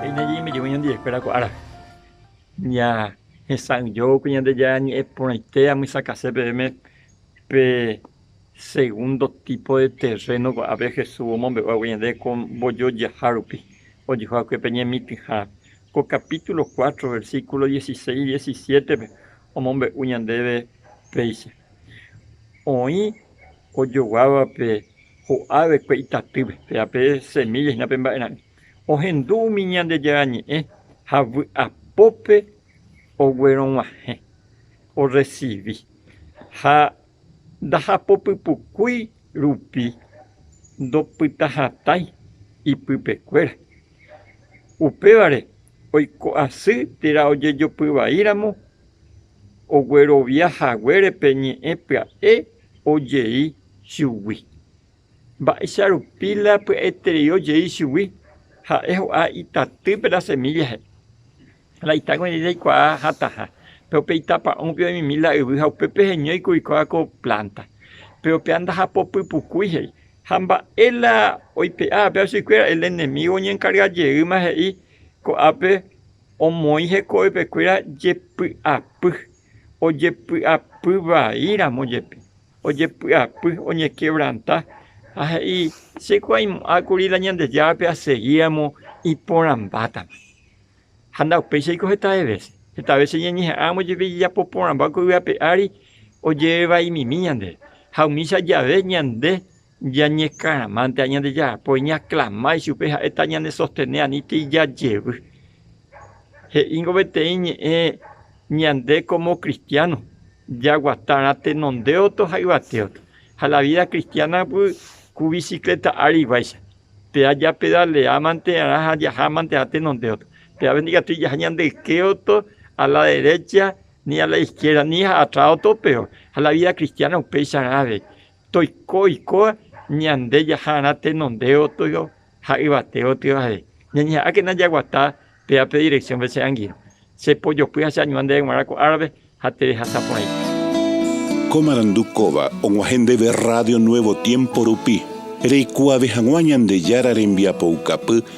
Peine jeimejegui ñandejaikuéra ko árape, ñahesa'ỹijo pe Ñandejára Ñe'ẽ Porãite amysakase peẽme pe segundo tipo de terreno ko'ápe Jesús omombe'u hague ñande ko mbojojaha rupi ojeho hague pe ñemitỹha. Ko capítulo cuatro, versículo dieciséis, diecisiétepe omombe'u ñandéve péicha, Oĩ ojoguávape Ho'a vekue itatýpe, péva pe semílla hína pe mba'erã'ỹ. Ohendu umi Ñandejára Ñe'ẽ ha vy'apópe oguerog̃uahẽ, orresivi. Ha ndahapopypukúi rupi ndopytahatãi ipypekuéra. Upévare oiko asy térã ojejopy vaíramo oguerovia haguére pe ñe'ẽ pya'e ojei chugui. Mba'éicha rupi la py'aitereívo jey chugui? Ha'e ho'a itatýpe la semílla he'i, La itágui rei reikuaa hatãha, péro pe itapa'õgui oĩmimi la yvy ha upépe heñói kuri kóva ko plánta. Péro péva ndahapopypukúi he'i. Ha mba'e la oipe'a péva chuguikuéra? El enemígo oñenkarga jeýma he'i, Ko'ápe omoĩ hekovepe kuéra jepy'apy, ojepy'apy vai ramo jepi. Ojepy'apy, oñekevranta ha he'i, Chekuaimo'ã kuri la Ñandejárape asegíamo iporãmbátama. Ha ndaupéichaiko hetave vése. Heta vése ñañeha'ãramo jepe jajapo porãmba ko yvape ári, ojerevaimimi ñandéve. Ha umícha jave ñande Ñañekãramánte ha ñandejarapói ñaklama ichupe ha'e ta ñanesostene anítei jajevy. He'íngo peteĩ ñe'ẽ ñande kómo kristiáno jaguatárã tenondéoto ha yvatéoto. Ha la vída kristiánagui ku visikleta áriguáicha, péva japedaleámanterã ha jahámanterã tenondéoto, pévape ndikatúi jaha ñande ykéoto a la derécha ni a la iskiérda ni ha atráoto opéva. Ha la vída kristiána upéicharã avei, Toiko oiko ñande jaha'arã tenonde otyo ha yvate otyo ahe. Ñañeha'ãkena jaguata pe ape dirección-pe che angirõ. Che pojopy ha che añua ndéve g̃uarã ko árape ha terehasa porãite. Ko marandu kóva og̃uahẽ ndéve Radio Nuevo Tiempo rupi, reikuaave hag̃ua Ñandejára rembiapoukapy